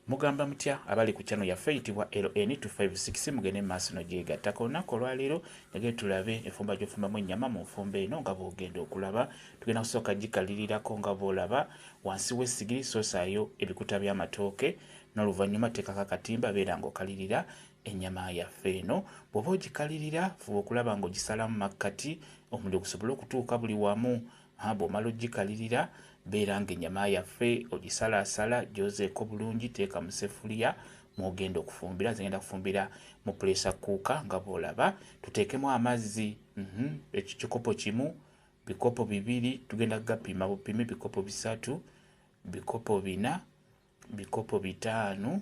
Mugamba mutya abali ku channel yaffe eyitibwa LN256 mugende mu maaso n'ogyegattako olunaku olwaleero njagala tulabe enfumba gy'ofumbamu ennyama mu nfumba eno nga bw'ogenda okulaba tugenda kusooka gikalirirako nga bw'olaba wansi w'essigiri soosaayo ebikuta by'amatooke n'oluvannyuma teekako akatimba beera ng'okalirira ennyama yaffe eno bw'oba ogikalirira fuba okulaba ng'ogisalamu makkati omuliro gusobole okutuuka buli wamu Ha, bw'omala ogikalirira, beera nga ennyama yaffe ogisalaasala, gyozeeko bulungi, teeka mu seffuliya mw'ogenda okufumbira. Nze ngenda kufumbira mu puleesa kkuuka nga bw'olaba. Tuteekemu amazzi, mhm, ekikopo kimu, bikopo bibiri, tugenda kugapima bupimi, bikopo bisatu, bikopo bina, bikopo bitaano,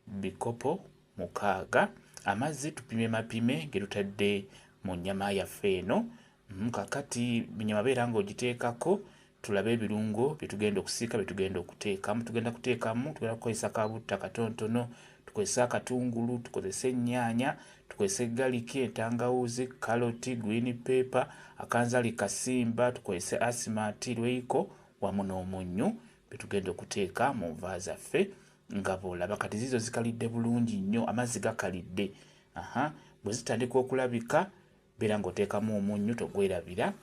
bikopo mukaaga amazzi tupime mapime getutadde mu nyama yaffe eno mm, kakati nyama beera nga ogiteekako tulabe ebirungo byetugenda okusiika byetugenda okuteekamu tugenda kuteekamu tugenda kukozesa kabutta katontono tukozese akatungulu tukozese ennyaanya tukozese galiki entangawuuzi kaloti green paper akanzali kasimba tukozese asimati lweyiko wamu n'omunnyu byetugenda okuteeka mu nva zaffe Nga bw'olaba kati ziizo zikalidde bulungi nnyo, amazzi gakalidde. Aha, bwe zitandika okulabika, beera ng'oteekamu omunnyu, togwerabira.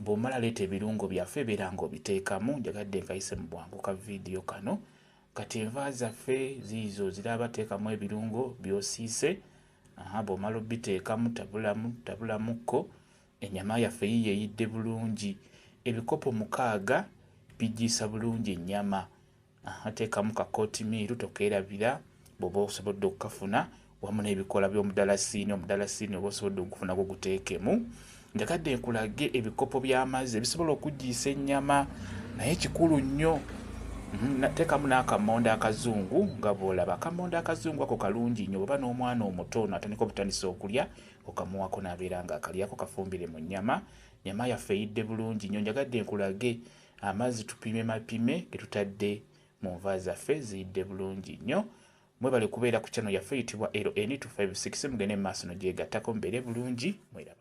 Bw'omala leeta ebirungo byaffe beera ng'obiteekamu. Njagadde nkayise mu bwangu ka vidiyo kano. Kati enva zaffe ziizo ziraba, teekamu ebirungo by'osiise. Aha, bw'omala obiteekamu, tabulamu, tabulamukko. Ennyama yaffe yiiyo eyidde bulungi. Ebikopo mukaaga biggyiisa bulungi ennyama. Aha, teekamu ka kootimiiru, tokeerabira, bw'oba osobodde okukafuna, wamu n'ebikoola by'omudalasiini, omudalasiini oba osobodde okugufuna gwo guteekemu. Njagadde nkulage ebikopo by'amazzi ebisobola okuggiisa ennyama, naye kikulu nnyo Mm-hmm. teekamu n'akammonde akazungu nga bw'olaba akammonde akazungu ako kalungi nnyo bweba n'omwana omuto ono atandika obutandisa okulya okamuwako n'abeera nga akalyako kafumbire mu nnyama nyama yaffe eyidde bulungi nnyo njagadde nkulage Amazzi tupime mapime getutadde mu nva zaffe ziyidde bulungi nnyo. Mwebale kubeera ku channel yaffe eyitibwa LN256 mugende mu maaso nogyegattako mubeere bulungi. Mweraba.